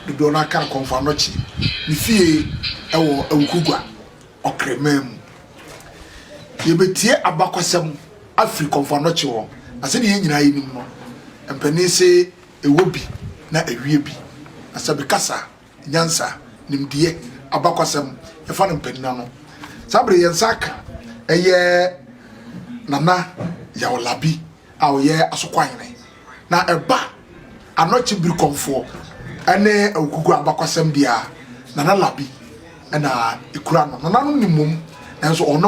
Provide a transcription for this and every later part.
Dodoɔ no ara ka no Kɔmfoanɔkye ne fie wɔ Awukugua, Ɔkraman mu. Yɛbɛtie abakɔsɛm afiri Kɔmfoanɔkye hɔ, na sɛdeɛ yɛn nyinaa yɛnim no, mpanin se ɛwɔ bi na ɛwie bi. Na sɛ mekasa nyansa, nimdeɛ, abakɔsɛm, yɛfa no mpanin ano. Saa berɛ yɛn nsa aka ɛyɛ Nana Yaw Labi a ɔyɛ Asokwa Hene. Na ɛba anɔkye birikɔmfoɔ ne awukuku abakɔsɛm deɛ a, Nana Labi na ɛkura ano. Nana no nim mmom, nanso ɔno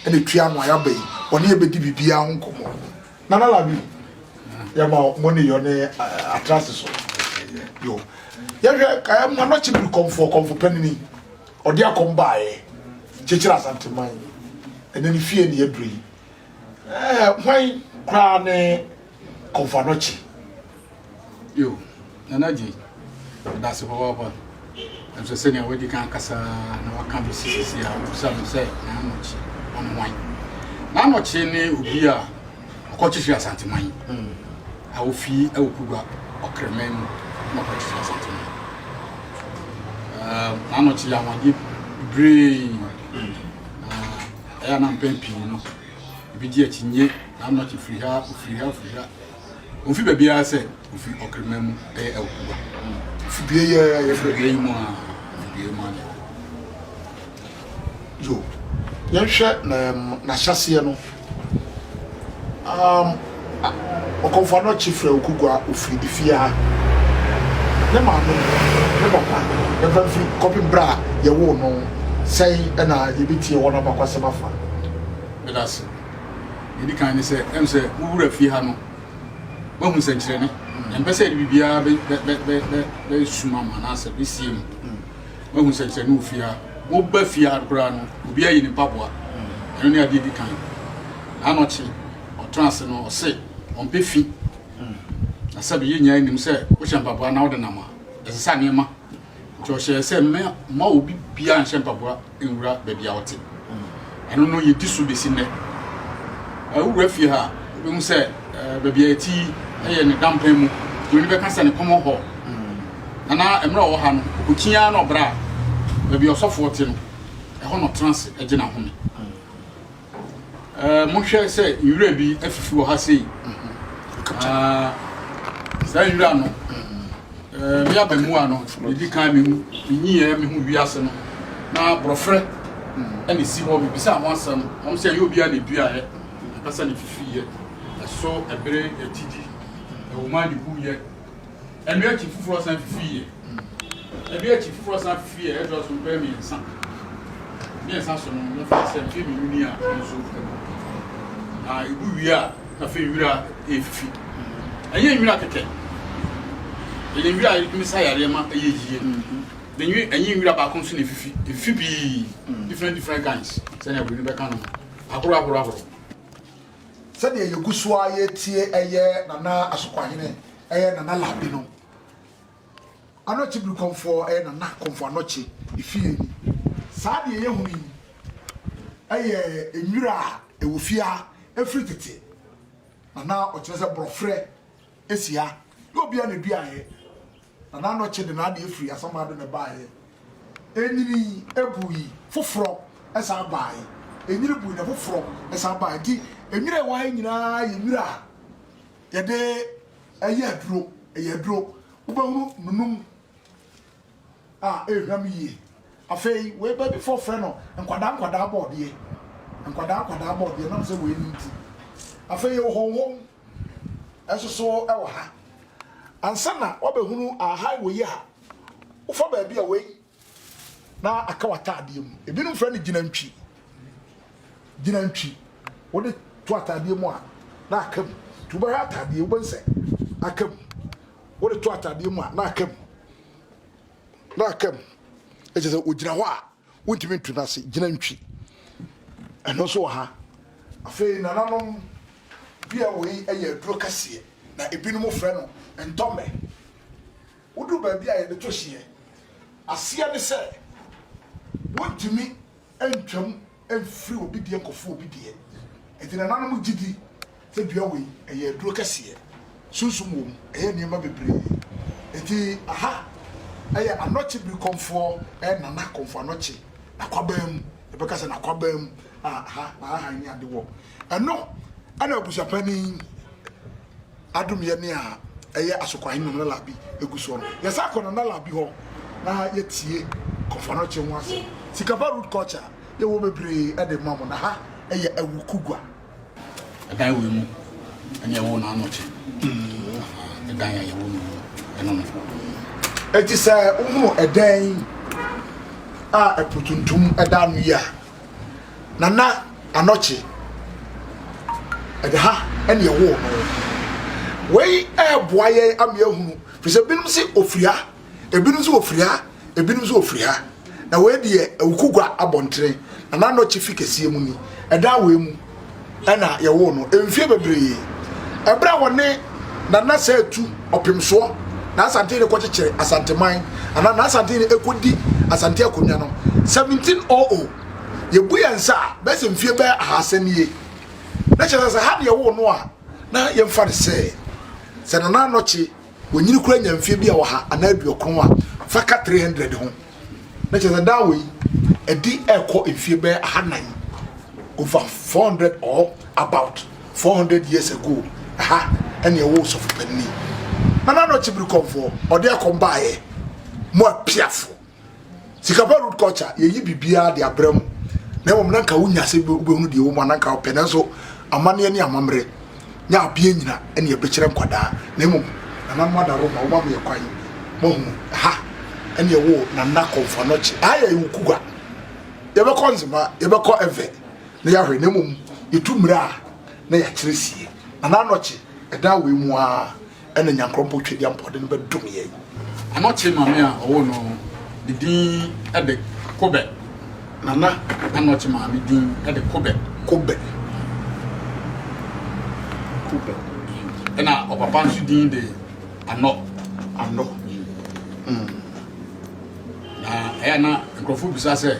na ɛtua ano a yɛaba yi, ɔne yɛ bɛdi biribiara ho nkɔmmɔ. Nana Labi, yɛma mo ne yɔ ne atrase so. Yo, yɛhwɛ anɔkye birikɔmfoɔ, kɔmfo panini, ɔde akɔm baeɛ, kyekyere Asanteman, ɛnɛ ne fie ne yɛduru yi. Ɛɛ, hwan koraa ne Kɔmfoanɔkye? Yo, Nana Gyei, meda ase papaapa. Nanso sɛnea woadi kan akasa na woaka besi sisi a, wubisa me sɛ Nana-Nɔkye, ɔne hwan? Nana-Nɔkye ne obi a ɔkɔkyekyere Asanteman a ofi Awukugua Ɔkraman mu na ɔkɔkyekyere Asanteman. Ɛɛ, Nana-Nɔkye yɛ anwanwadeɛ bebree. Ɛyɛ a na mpɛn pii no ebegye akyinnye na ama ɔte firi ha, ofiri ha, ofiri ha. Omfi baabiara sɛ ofi ɔkreman mu, ɛyɛ Awukuba. Ofi dua yi ara, yɛfrɛ dua yi mu a, ofi dua yi mu a na ɛwɔ. Yo, yɛnhwɛ n'ahyɛseɛ no. Um, A Ɔkɔmfoɔ no kye frɛ Okugu a ɔfiri ne fie ha, ne maame, ne papa, ne mfa mfiri kɔpem berɛ a yɛwoo no. Sɛn na yɛbɛtie wɔn abakwasɛm afa? Meda ase. Deɛ ɛdi kan ne sɛ, ɛm sɛ wo wura fie ha no, woahu nsɛnkyerɛnne. Yɛmpɛ sɛ yɛde biribiara bɛ, bɛ, bɛ, bɛ, bɛ, bɛsum ama anaasɛ bɛsie mu. Woahu nsɛnkyerɛnne wɔ fie ha. Woba fie ha koraa no, obiara yi ne mpaboa. Ɛno ne adeɛ ɛdi kan. Anɔkye. ɔtena ase no, ɔse ɔmpɛ fi. Na sɛbe yɛn nyinaa nim sɛ wohyɛ mpaboa na wode nam a, ɛsesa nneɛma. Nti ɔhyɛɛ sɛ mma obi biara nhyɛ mpaboa nwura baabi a ɔte. Ɛno no yɛdi so bɛsi nnɛ. Wowura fie ha a, wobɛhu sɛ baabi a ɛte yi yɛ ne dampan mu. Buroni bɛka sɛ ne common hall. Na na mmerɛ ɔwɔ ha no, ɔkɔkyin ara na ɔbra baabi a ɔsɔfoɔ te no, ɛhɔ na ɔtena ase gye n'ahome. Eh, monhwɛ sɛ nwura bi afifi wɔ ha sei. Ah, saa nwura no, eh, me abamua no, medi kan menyiiɛ me ho wiase no, na borɔferɛ ɛna ɛsi hɔ. Mebisa ho asɛm, wɔn sɛ ɛyɛ obiara na ɛduaeɛ, ɛkasa na ɛfifiiɛ, ɛso ɛbere atidi, ɛwoma na ɛwuiɛ. Ɛno akyi foforɔ san fifiiɛ. Ɛno akyi foforɔ san fifiiɛ ɛtɔ so mpɛn mmiɛnsa. Mmiɛnsa so no na faa sɛ mfeɛ mmienu ni a ɛno nso ɛgu. Na ɛgu wie a na fei nwira ɛrefifi. Ɛnyɛ nwira kɛkɛ. Ɛyɛ nwira a ɛtumi sa yareɛ ma ɛyɛ yie. Na nwi ɛnyɛ nwira baako nso na ɛfifi. Ɛfifi pii. Different different kinds sɛdeɛ aburoni bɛka no no. Ahorow ahorow ahorow. Sɛdeɛ yɛgu so ara yɛretie ɛyɛ Nana Asokwahene Ɛyɛ Nana Labi no Anɔkye biri kɔmfoɔ ɛyɛ Nana kɔmfoɔ Anɔkye efie ni saa deɛ yɛhu yi ɛyɛ nwira a ɛwɔ fie ha ɛfiri tete na na ɔkyerɛ sɛ borɔferɛ ɛsi ha na obia na ɛduaeɛ Nana Anɔkye de n'adeɛ ɛfiri Asamado na ɛbaeɛ ɛnyini ɛbu yi foforɔ ɛsan abaeɛ ɛnyini bu yi na foforɔ ɛsan abaeɛ nti nwira ɛwɔ ha nyinaa yɛ nwira a Yɛde ɛyɛ aduro, ɛyɛ aduro. Wobɛhunu nunum a ɛrehwam yie. Afei wei bɛbifoɔ frɛ no nkwadaa nkwadaa bɔɔdeɛ. Nkwadaa nkwadaa bɔɔdeɛ nam sɛ wei no nti. Afei yɛwɔ hɔnhɔm nsoso wɔ ha. Ansa na wabɛhunu ahae wei a, wofa baabi a wei na aka w'ataadeɛ mu. Ebinom frɛ no gyinantwi. Gyinantwi. Wode to ataadeɛ mu a, na aka mu. Nti wobɛhwɛ ataadeɛ, wobɛhu sɛ aka mu. Wode to ataadeɛ mu a, na aka mu. Na aka mu. Ɛkyɛ sɛ ɔgyina hɔ a, wontumi nto no ase. Gyinantwi. Ɛno nso wɔ ha. Afei nananom dua wei yɛ aduro kɛseɛ, na ebinom frɛ no ntɔmmɛ. Wodu baabi a yɛde to hyeɛ. Aseɛ ne sɛ, wontumi ntwam mfiri obi deɛ nkɔforo obi deɛ. Enti nananom gye di sɛ dua wei, ɛyɛ aduro kɛseɛ. Sunsum wɔ mu, ɛyɛ nneɛma bebree. Enti aha yɛ Anɔkye Birikɔmfoɔ, ɛyɛ Nana Kɔmfo Anɔkye, N'akwaban mu. Yɛbɛka sɛ N'akwaban mu a aha na ahahan ne ade wɔ. Ɛno na abusuapanin. Adom yɛ nea ɛyɛ Asokwahe Nana Labi egu soɔ no. Yɛ san kɔ Nana Labi hɔ na yɛ tie Kɔfɔnɔkye ho asɛm. Sikapa root culture yɛ wɔ bebree ɛde ma mo na ha ɛyɛ Awuku gua. Ɛdan wei mu ɛna yɛ woo Nanɔkye. Ɛdan a yɛ woo no mu ɛno no. Enti sɛ wo hunu ɛdan a ɛpo tuntum ɛda ano yi a. Nana Anokye, ɛde ha ɛna ɛwoo no. Wei ɛɛboa yɛn ama yɛahunu, firi sɛ ebinom se ofiri ha, ebinom nso ofiri ha, ebinom nso ofiri ha. Na wei deɛ Awukugwa abɔntene, Nana Anokye fi kɛseɛ mu ni. Ɛdan wei mu. na yɛwoo no mfie bebree. Ɛberɛ a wɔne Nana Sɛɛtu Ɔpemsoɔ na Asante no kɔkyekyere Asanteman anaa na Asante no kɔdi Asante akonnwa no 1700 yɛbu yɛn nsa a bɛyɛ sɛ mfie bɛyɛ ahasa nie na kyerɛ sɛ sɛ ha ne yɛwoo no a na yɛmfa no sɛ sɛ Nana Anɔkye Wonyini koraa nya mfeɛ bi a ɔha anaa aduokron a, fa ka 300 ho, na kyerɛ sɛ daa wei adi rekɔ mfeɛ bɛyɛ ahanan, over 400 or about 400 years ago, ɛha ɛne ɛwɔ Osɔfo Panini. Nana Anokye Birikɔmfoɔ, ɔde akɔm baeɛ, mo apiafoɔ. sikapa root culture yɛyi biribiara de abrɛ mu na mmom na nka wonya sɛ wobɛhunu deɛ ɛwɔ mu ananka wopɛ nanso amanneɛ ne amammerɛ ne abeɛ nyina ɛne ɛbɛkyerɛ nkwadaa na mmom nananom ada roma woma meyɛ kwan mahunu ha ɛne ɛwɔ nana kɔmfo anɔkye aha yɛ yɛwɔ kugua yɛbɛkɔ nzema yɛbɛkɔ ɛvɛ na yɛahwɛ na mmom yɛtu mmerɛ a na yɛakyerɛ sie nana anɔkye ɛdan wei mu a Ɛna Nyankorɔnpɔn Twedeɛ Mpɔde no bɛdom yɛn. Ɔno tee Maame a ɔwoo no no ne din de Kobɛ. Nana. Ɛna ɔte Maame din de Kobɛ. Kobɛ. Kobɛ. Ɛna ɔpapa nso din de Anɔ. Anɔ. Na ɛyɛ na nkurɔfo bisa sɛ,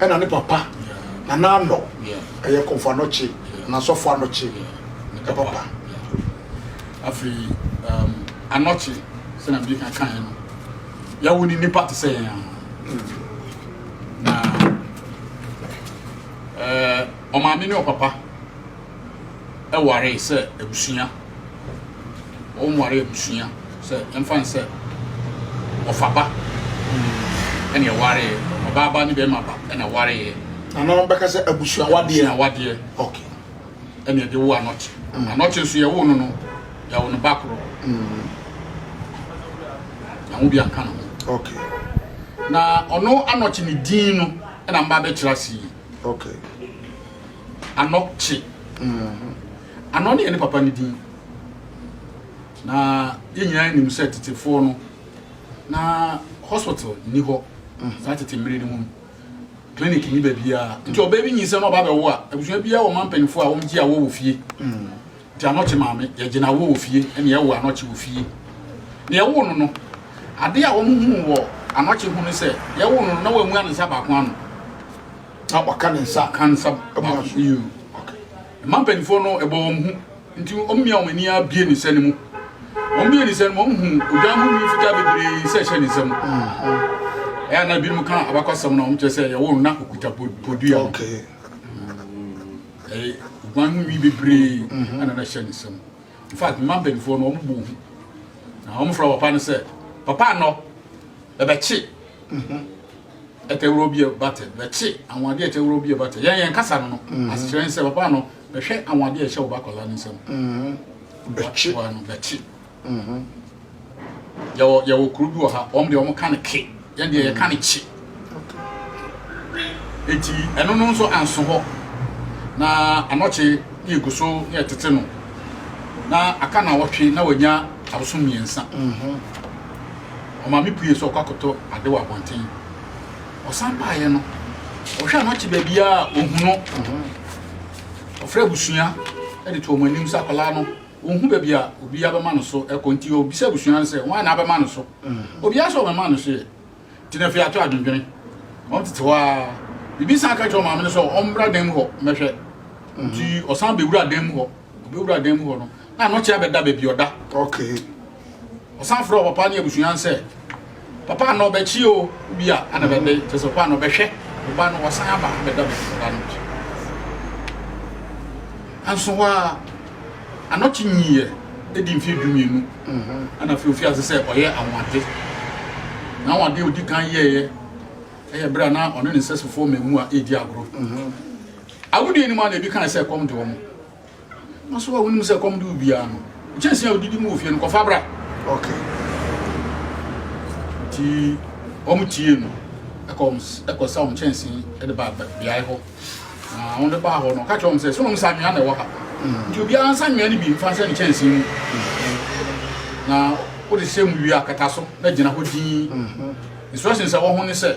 Ɛna ne papa Nana Ano ɛyɛ Komfo Anokye anaa Sɔfo Anokye ne papa. Afei um Anokye sɛnea mede kan kaeɛ no yɛwo ne nipa te sɛ yɛn ara na ɛɛ ɔmaame ne ɔpapa. waree sɛ abusua, wɔn waree abusua sɛ ɛmfa ne sɛ ɔfaba ɛna ɛwareeɛ, ɔbaa ba ne bɛrima ba ɛna ɛwareeɛ. Na na wɔbɛka sɛ abusua wadeɛ. Abusua wadeɛ. Okay. Ɛna ɛde wo anɔkye. Mm. Anɔkye nso yɛwo no no, yɛwo no ba korɔ. Mm. Yɛwo bi anka no ho. Okay. Na ɔno anɔkye ne din no ɛna mba bɛkyerɛ ase yi. Okay. Ano kye. Ano ne yɛ ne papa no din. Na yɛ nyinaa nim sɛ tetefoɔ no na hospital nni hɔ saa tete mmere no mu no clinic nni baabiara nti ɔbaa bi nyinsɛn na ɔba bɛwo a abusua biara wɔ ma mpanyinfoɔ a wɔgye awoɔ wɔ fie nti anɔkye maame yɛgye na awoɔ wɔ fie ɛna yɛwo anɔkye wɔ fie na yɛwo no no adeɛ a wɔn hu wɔ anɔkye ho no sɛ yɛwo no no na wɔamua ne nsa baako ano Na waka ne nsa. Ka nsa baako. Ɛmu aso yie o. Ok. Mmaa mpanimfoɔ no, ɛbɔ wɔn hu. Nti wɔn mmea wɔn ani ara bue ne sɛ no mu. Wɔn bue ne sɛ no mu, wɔn hu odwan ho nwi fitaa bebree sɛ ɛhyɛ ne nsa mu. Ɛyɛ a na ebinom ka abakɔsɛm no a wɔn kyerɛ sɛ yɛwɔ no na okuta podua no. Ok. Ɛyɛ odwan ho nwi bebree ɛna na ɛhyɛ ne nsa mu. In fact, mmaa mpanimfoɔ no, wɔn bɔ hu. Na wɔn fura papa no sɛ, papa anɔ. Ɛbɛkye. Mhm. Ɛtɛ wura obi but bɛkye anwadeɛ ɛtɛ wura obi but yɛn yɛn kasa no no mhm. asekyerɛ nsɛ papa no bɛhwɛ anwadeɛ ɛhyɛ wo ba akwadaa no nsam mhm. bɛkye wa no bɛkye mhm. yɛwɔ yɛwɔ kuro bi wɔ ha wɔn deɛ wɔn ka no ke yɛn deɛ yɛ ka no kye eti ɛno no nso anso hɔ na anɔkye ne egu so ne ɛtete no na aka na wɔtwe na wɔnya abosom mmiɛnsa. Ɔmaame puee sɛ ɔkɔ akɔtɔ ade wɔ abɔnten. Ɔsan baeɛ no, ɔhwɛ a na ɔte baabiara a ɔnhu no. Ɔfrɛɛ abusua de too wɔn anim sɛ akwadaa no, ɔnhu baabi a obiara bɛma no so kɔ nti ɔbisaa abusua no sɛ hwan na abɛma no so. Obiara sɛ ɔbɛma no so ɛ. Nti no afei ato adwendwene. Wɔtete hɔ ara. Bibi san ka kyerɛɛ ɔmaame no sɛ ɔmmra dan mu hɔ mmɛhwɛ. Nti ɔsan bɛwuraa dan mu hɔ. Ɔbɛwura dan mu hɔ no, na anɔkye abɛda baabi ɔda. Okay. Ɔsan frɛ papa ne abusua no sɛ, papa anɔ bɛkye o, bi a ana bɛbɛ, kyɛ sɛ papa anɔ bɛhwɛ, ɔba no wasan aba abɛda baabi ɔda no. Anso hɔ a, anɔkye nyiiɛ ɛdi mfeɛ du mmienu, mhm. ana afei ofi ase sɛ ɔyɛ anwade. Na anwade a ɔdi kan yɛeɛ ɛyɛ berɛ a na ɔne ne sɛsofoɔ mmamu a ɛredi agorɔ. Mhm. Agodie anim a na ebi kae sɛ ɛkɔm de wɔn. Na so a wonim sɛ ɛkɔm de wo biara no, kyɛnsee a wodidi mu wɔ fie no kɔfa bra. Okay. Nti wɔn tie no ɛkɔ wɔn ɛkɔ sa wɔn kyɛnsee ɛde ba beae hɔ. Na wɔn de baa hɔ no ɔka kyerɛ wɔn sɛ so wɔn nsa anwea na ɛwɔ ha. Mm. Nti obiara nsa nwea no bi nfa nhyɛ ne kyɛnsee mu. Mm. Na wode hyɛ mu wie akata so na gyina hɔ dinn. Mm-hmm. Instructions a wɔn ho ne sɛ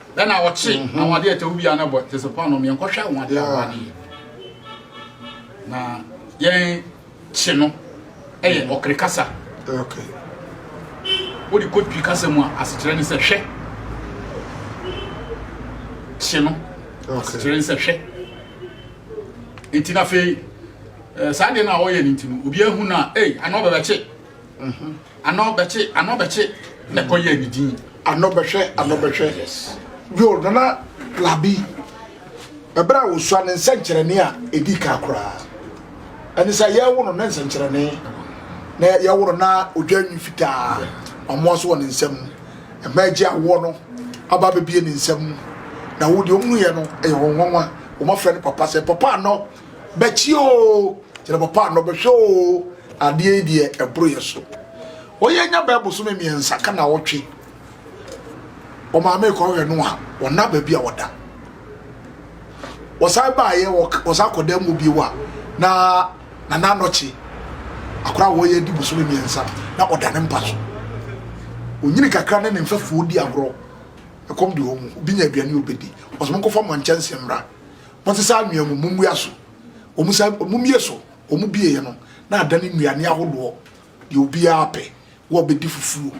Ɛna ɔkye mhm. àwọn adeɛ ɛtɛ wo biara no bɔ tese paa nom yɛnkɔhwɛ àwọn adeɛ awa no yɛ na yɛn kye no ɛyɛ mhm. ɔkere kasa wode kɔ twi kasa mu a asekyerɛ ne sɛ hwɛ kye no asekyerɛ ne sɛ hwɛ nti na afei eh, saa deɛ no a ɔyɛ no nti no obiaa hu no a ei ana ɔbɛbɛkye mhm. Ano bɛkye, ano bɛkye, na ɛkɔ yɛ ne din. Ano bɛhwɛ, ano bɛhwɛ. Yo, Nana Labi, ɛberɛ a wɔsua ne nsɛnkyerɛnne a ɛdi ka koraa. Ɛne sɛ yɛwo no ne nsɛnkyerɛnne, na yɛwo no na odwa nwi fitaa, ɔmoa so wɔ ne nsam. Ɛma agye awoɔ no aba bɛbie ne nsam. Na wo deɛ ɔmunuiɛ no, ɛyɛ wɔn nwanwa. Wɔafrɛ no papa sɛ, papa ano. Bɛkye oo, kyerɛ papa a na ɔbɛhwɛ oo, adeɛ yi deɛ ɛboro yɛ so. Wɔyɛ anya bɛɛ bosome mmiɛnsa ka na ɔtwe. Ɔmaame kɔhwɛ no a, ɔna baabi a ɔda. Wɔsan baayɛ, wɔsan kɔ dan mu bio a, na nana anɔkye akora a wɔyɛ di bosome mmiɛnsa na ɔda ne mpa so. Onyini kakra ne ne mfɛfoɔ di agorɔ. Ɛkɔm de wɔn mu, obi nya aduane ɔbɛdi. Ɔsɛ mo nkɔfa mo nkyɛnse mmra. Wɔsesa anwea mu mmummua so, wɔsa mmummie so, wɔbieɛ no na adane nnuane ahodoɔ deɛ obiara pɛ, wɔbɛdi fufuo,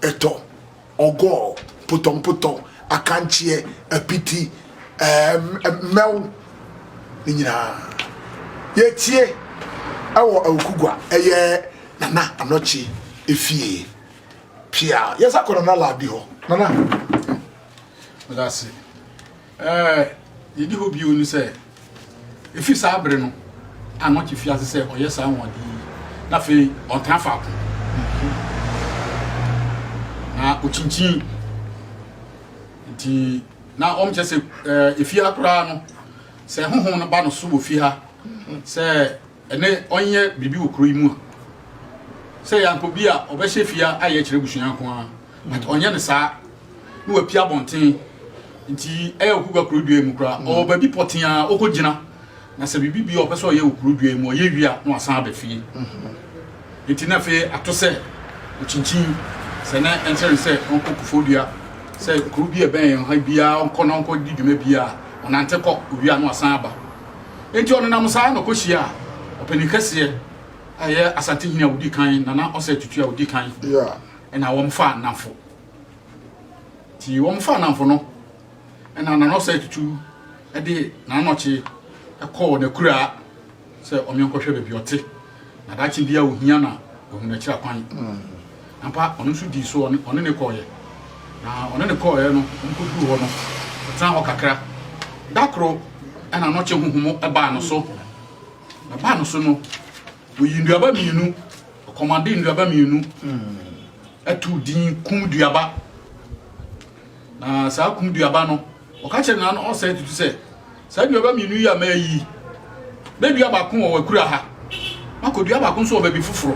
ɛtɔ, ɔgɔɔ, potɔmpotɔ, akankyeɛ, apiti, ɛɛ mmɛw ne nyinaa. Yɛtie ɛwɔ Awukugua ɛyɛ Nana Anɔkye efie. Pia, yɛsa kɔ Nana Laabi hɔ. Nana. Medase. Ɛɛ, nea edi hɔ bio ne sɛ, efi saa bere no a na ɔte fi ase sɛ ɔyɛ saa anwonwade yi, na afei ɔntra faako, na okyinkyin. Enti na wɔkyerɛ sɛ, ɛɛ, efi ha koraa no, sɛ honhom no ba no so wɔ fi ha sɛ, Ɛnnɛ ɔnyɛ biribi wɔ kuro yi mu a sɛ yɛankɔ bi a ɔbɛhyɛ fie ayɛ kyerɛ abusua nko ara but ɔnyɛ no saa na wapia abɔnten nti ɛyɛ ɔkokwa kuro dua mu koraa mm. ɔwɔ baabi pɔtee a ɔkɔgyina na sɛ biribi bi a ɔpɛ sɛ ɔyɛ wɔ kuro dua mu ɔyɛ wie a na wasan aba fie mm-hmm. nti na afei ato sɛ ɔkyinkyin sɛ na ɛnkyerɛ no sɛ ɔnkɔ kofo dua sɛ kuro bi a ɛbɛn yɛn ha biara ɔnkɔ na ɔnkɔ di dwuma biara ɔnante kɔ owia na wasan aba Enti ɔnenam saa na ɔkɔhyiaa ɔpanin kɛseɛ a ɛyɛ Asante hene a ɔdi kan, Nana Osei Tutu a ɔdi kan, ɛna wɔfaa nnamfo. Nti wɔfaa nnamfo no, ɛna Nana Osei Tutu de Nana Nɔkye kɔɔ n'akuraa sɛ ɔmenkɔhwɛ baabi ɔte. na daakye biara ohia na ohunu akyiri akwan. Ampa, ɔno nso dii so, ɔne ne kɔɔeɛ. Na ɔne ne kɔɔeɛ no, ɔmkɔduruu hɔ no, ɔtenaa hɔ kakra. Da koro, ɛna anɔkye honhomo baa no so. Na baa no so no, ɔyii nnuaba mmienu, ɔkɔmandee nnuaba mmienu, ɛtoo din kum duaba. Na saa kum duaba no, Ɔka kyerɛɛ Nana no ɔsɛe tutu sɛ, Saa nnuaba mmienu yi a mayi yi, mɛdua baako wɔ w'akura ha, makɔdua baako nso wɔ baabi foforɔ.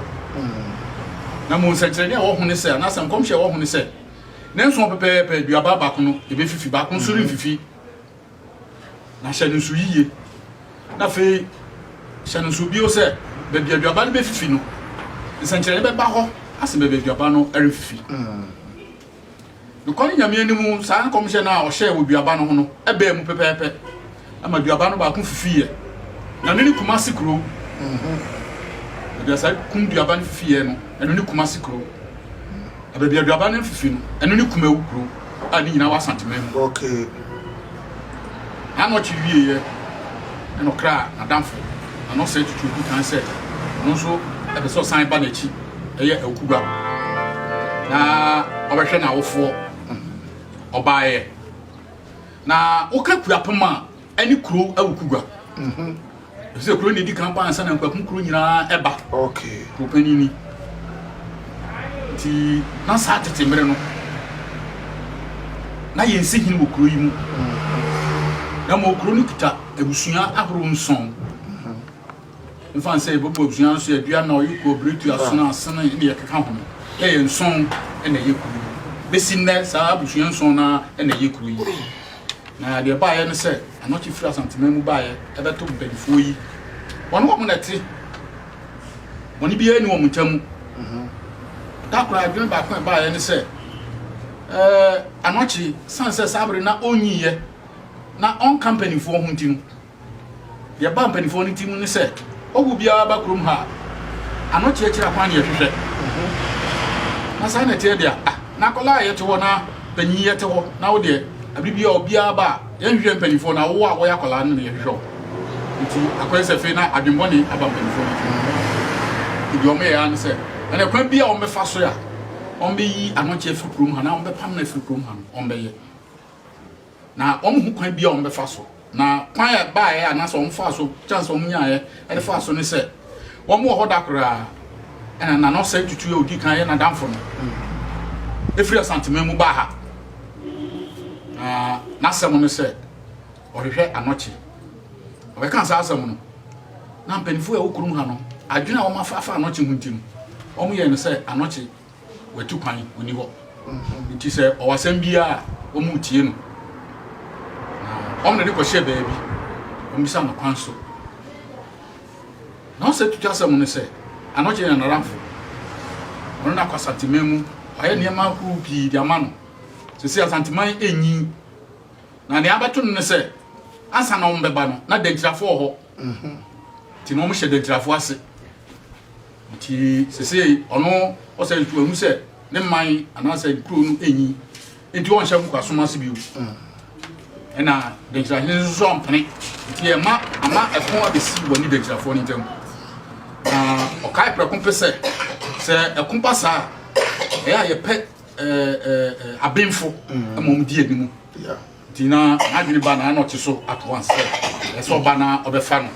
Na mmom nsɛnkyerɛnne a ɛwɔ ho ne sɛ, anaasɛ nkɔmhyɛ a ɛwɔ ho ne sɛ, Nnanson hɔ pɛpɛɛpɛ duaba baako no ɛbɛfifi, baako nso remfifi. Na hyɛ no nso yiye. Na afei hyɛ no nso bio sɛ, baabi a duaba no bɛfifi no, nsɛnkyerɛnne bɛba hɔ asen baabi a duaba no remfifi. Nokware Nyame anim saa nkɔmhyɛ no a ɔhyɛɛ wɔ duaba no ho no baa mu pɛpɛɛpɛ ma duaba no baako fifiiɛ. Ɛno ne Kumasi kuro. Baabi a saa kum duaba no fifiiɛ no, ɛno ne Kumasi kuro. Na baabi a duaba no fifi no, ɛno ne Kumawu kuro a ne nyinaa wɔ Asanteman mu. Okay. Anɔkye wieeɛ na ɔkraa n'adamfo na na ɔsɛe tutu adi kan sɛ ɔno nso pɛ sɛ ɔsan ba n'akyi yɛ awukuba na ɔbɛhwɛ n'awofoɔ. Ɔbaeɛ na woka Kuapem a ɛne Kurow Awukugua. ɛfisɛ kuro na edi kan ba ansa na nkwakum kuro nyinaa ɛba okay kuro panyin ni ti na saa tete mmerɛ no na yɛn si hene wɔ kuro yi mu na ma kuro no kita abusua ahorow nson nfa nsɛ yɛbɛbɔ abusua no so yɛdua na ɔyɛ kɔ biretu asena asena ne yɛkeka ho no ɛyɛ nson ɛna ɛyɛ kuro yi bɛsi nnɛ saa abusua nson na ɛna ɛyɛ kuro yi Na deɛ ɛbaeɛ ne sɛ, anɔkye firi Asanteman mu baeɛ bɛto mpanimfoɔ yi. Wɔne wɔn na ɛte. Bɔne biara ni wɔn ntam. Mhm. Da koraa adwene baako a ɛbaeɛ ne sɛ, ɛɛ anɔkye, sane sɛ saa bere na ɔnyiiɛ na ɔnka mpanimfoɔ ho nti no, Deɛ ɛbaa mpanimfoɔ no tirim ne sɛ, Ɔhɔho biara ba kurom ha a, ano kyeakyere akwan na yɛhwehwɛ. Na saa na ɛteɛ deɛ a, ah, na akwadaa a yɛte hɔ na panyin yɛte hɔ, na wo deɛ, abiri biara obiara ba a, yɛnhwehwɛ mpanimfoɔ na wo a wɔyɛ akwadaa no na yɛhwehwɛ wo. Nti akɔyɛ sɛ afei na adwemmɔne aba mpanimfoɔ no tirim. Nti deɛ wɔyɛ ara ne sɛ, ɛnna kwan bi a wɔbɛfa so a wɔbɛyi anɔkye afiri kurom ha na wɔbɛpam no afiri kurom ha no, wɔbɛyɛ. Na wɔnhu kwan biara a wɔbɛfa so. Na kwan a ɛbaeɛ a anaasɛ wɔfaa so, chance a wɔnyaeɛ de faa so ne sɛ, wɔwɔ hɔ da koraa ɛna Nana Osei Tutu a ɔdi kan yɛ n'adamfo no firi Asanteman mu baa ha. Na n'asɛm ne sɛ ɔhwehwɛ anɔkye. Ɔbɛkaa saa asɛm no, na mpanimfoɔ a ɛwɔ kurom ha no, adwene a wɔafa afa anɔkye ho nti no, wɔyɛɛ no sɛ anɔkye watu kwan ɔni hɔ nti sɛ ɔwɔ asɛm biara a wɔretie no na wɔn de no kɔhyɛ baabi wɔbisa no kwan so na ɔsɛ tutu asɛm no sɛ anɔgye na naramfo ɔno na akɔ asanteman mu wayɛ nneɛma ahorow pii de ama no sɛ sɛ asanteman enyi na nea abɛto no ne sɛ ansa na wɔn bɛba no na dankyirafo wɔ hɔ Mhm. Nti na ɔmo hyɛ Dantirafo ase. Nti sesei ɔno ɔsɛ nso wahu sɛ ne mman anaasɛ nkuro no enyi. Nti ɔnhyɛ nkoasom ase bio. Mm. Ɛna Dantirahene nso so ampene. Nti ɛma ama ɛko abesi wɔ ne Dantirafoɔ no ntam. Na ɔkae prɛko pɛ sɛ sɛ ɛko ba saa a, ɛyɛ a yɛpɛ ɛɛ ɛɛ abenfo mm. ma ɔmo di anim. Yeah. Nti na n'adwene ba no ara na ɔte so at once sɛ ɛsɛ sɛ ɔba na ɔbɛfa no.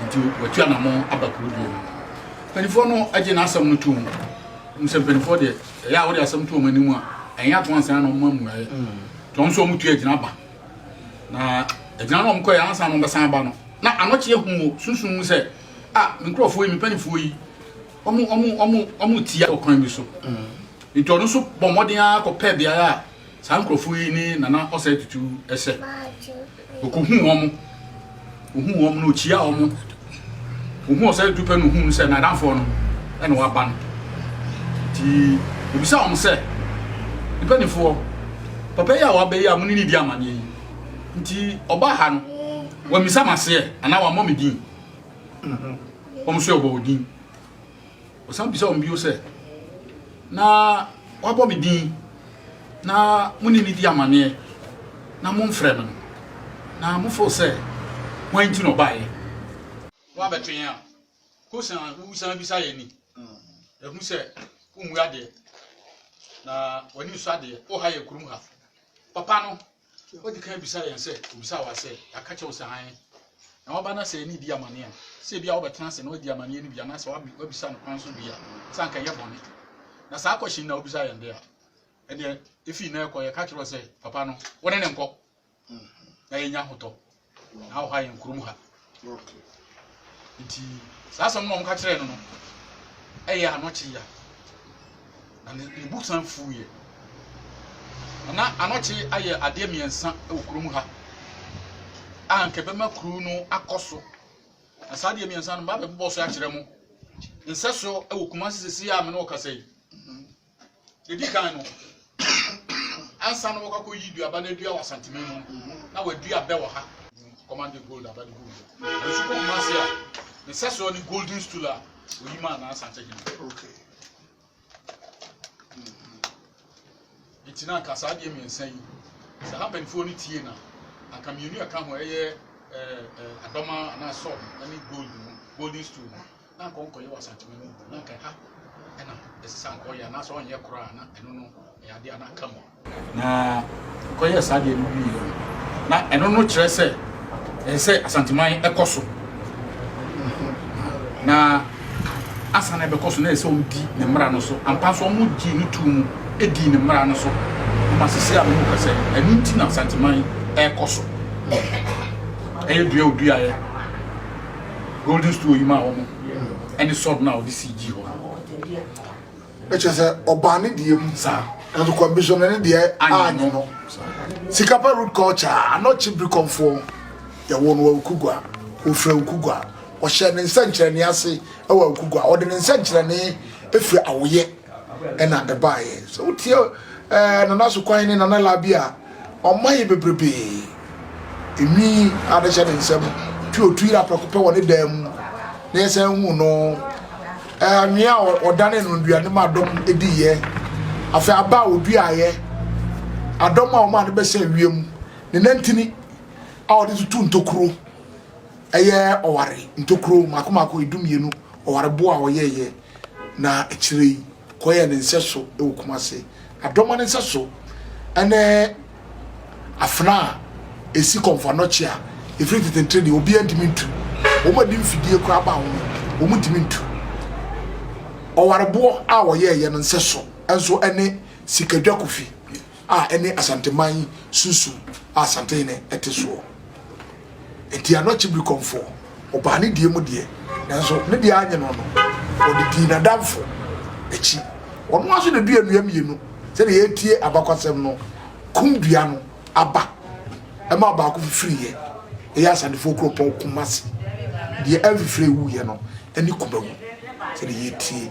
Nti watu anamɔ aba kuro bio no. Mpanimfoɔ no agye n'asɛm no tom. Wɔn sɛ mpanimfoɔ deɛ ɛyɛ a wɔde asɛm to wɔn anim a ɛnyɛ at once na wɔn ma mmuaeɛ. Nti wɔn nso wɔn tu agyina ba. Na agyina no wɔn kɔɛ ansa na wɔn bɛsan aba no. Na anɔkyeɛ hu wɔ sunsun mu sɛ ah me nkurɔfoɔ yi me mpanimfoɔ yi wɔn wɔn wɔn wɔn tia wɔ kwan bi so. Nti ɔno nso bɔ mmɔden ara kɔpɛ beaeɛ a Saa nkurɔfoɔ yi ne Nana Ɔsɛe Tutu sɛ. Ɔkɔhuu wɔn. Ɔhuu wɔn no, ɔkyiaa wɔn. Ɔhuu Ɔsɛe Tutu pɛ no, ɔhuu no sɛ n'adamfoɔ no na waba no. Nti, ɔbisa wɔn sɛ, Mpanimfoɔ, papa yi a waba yi a mo ne ne di amanneɛ yi, nti ɔbaa ha no, wammisa m'aseɛ anaa wammɔ me din? Wɔn nso wɔbɔ wɔn din. Ɔsan bisaa wɔn bio sɛ, Na wɔabɔ me din, na mo ne me di amanneɛ, na momfrɛ me no, na mofoo sɛ hwan nti na ɔbaeɛ? Woabɛtwe yɛn a, kɔ san wusan bisa yɛn ni. Yɛahu sɛ wommu adeɛ, na w'ani nsɔ adeɛ, woha yɛn kurom ha. Papa no, Odi kan bisa yɛn sɛ, obisa wa sɛ, yɛaka kyɛw sɛ hann. Na waba na sɛ yɛne di amanneɛ a, sɛ ebi a wobɛtena ase na wadi amanneɛ no bi anaasɛ wabisa no kwan so bi a, sɛ anka ɛyɛ bɔne. Na saa kɔhyen na wobisa yɛn de a, ɛdeɛ efi na ɛkɔ yɛka kyerɛ sɛ, papa no, wo ne ne nkɔ. Na yɛnya hotɔ. Na ɔha yɛn kurom ha. Nti saa asɛm na wɔka kyerɛɛ no no ɛyɛ anɔkye ya. Na ne bo san fuiɛ. Na anɔkye ayɛ adeɛ mmiɛnsa wɔ kurom ha a nka ɛbɛma kuro no akɔ so. Na saa adeɛ mmiɛnsa no mabɛbobɔ so akyerɛ mo. Nsɛ so wɔ Kumasi sisi a me ne ɔkasa yi. Edi kan no, ansa na wɔkɔkɔ yi duaba no adua wɔ Asanteme mu na wɔadua bɛ wɔ ha. Kɔmande gold aba de gold. Nsu kɔ kuma ase a, ne sɛsoɔ ne golden stool a oyi maa na Asante hene. Okay. Nti na anka saa adeɛ mmiɛnsa yi, sɛ ha mpanimfoɔ no tie na anka mmienu ɛka ho ɛyɛ adɔma anaa sɔb ne gold no, golden stool no. Na anka ɔnkɔyɛ wɔ asakyema mu, na anka ɛha na ɛsɛ sɛ anka ɔyɛ, anaasɛ ɔnyɛ koraa, na ɛno no ɛyɛ adeɛ a na aka mu. Na ɔkɔyɛɛ saa adeɛ no wieɛ no, na ɛno no kyerɛ sɛ ɛsɛ sɛ Asanteman ɛkɔ so, na ansa na ɛbɛkɔ so na ɛsɛ sɛ wɔdi ne mmara no so. Ampa nso wɔgyee no too mu dii ne mmara no so, ma sisi a mehu ka sɛ ɛno nti na Asanteman ɛrekɔ so. Ɛyɛ dua a ɔduaeɛ. golden stool yi maa wɔn ɛne sword no a wɔde sii gyi hɔ no. ɛkyɛ sɛ ɔbaa ne deɛ mu nanso kɔmbisɔne ne deɛ anyɛ no sikapa root culture anɔ kyibiri kɔmfoɔ yɛwɔ no awukugua ɔfiri awukugua ɔhyɛ ne nsɛnkyerɛnne ase wɔ awukugua ɔde ne nsɛnkyerɛnne ɛfiri awoyɛ ɛna ɛbaeɛ sɛ wotie ɛɛ nana sokwan ne nana labi a ɔma yɛ bebrebe enwi adehyɛ ne nsam twi otwi yɛ apɛko pɛ wɔ ne dan mu na yɛsan hu no ɛɛ anwea a ɔdane no nnuane ma adɔm edi yɛ afei aba a oduaeɛ adɔm a wɔn a ne bɛsɛ wiem ne nantini a wɔde tutu ntokuro ɛyɛ ɔware ntokuro mako mako edu mmienu ɔware boa a ɔyɛɛyɛ. na akyire yi kɔyɛɛ ne nsɛso wɔ Kumasi. Adoma no nsɛso ne afena a ɛsi kɔmfo anɔkye a ɛfiri nketenkete deɛ obiara ntumi ntu. Wɔn a ɛde mfidie koraa ba ho no, wɔntumi ntu. Ɔwareboɔ a wɔyɛeɛ no nsɛso nso ne Sikadwa Kofi. a ɛne Asanteman yi sunsum a Asantehene ɛte soɔ. Enti ano akye Birikɔmfoɔ, ɔbaa ne deɛ mu deɛ, nanso ne deɛ annye no no, ɔde dii n'adamfo akyi. Ɔno ara nso na ɛdua nnua mmienu, sɛdeɛ yɛretie abakwasɛm no, kum dua no aba, ɛmaa baako fifiriiɛ, ɛyɛ Asantefoɔ kuropɔn Kumasi. Deɛ ɛmfifiree wuiɛ no ne kumawu, sɛdeɛ yɛretie.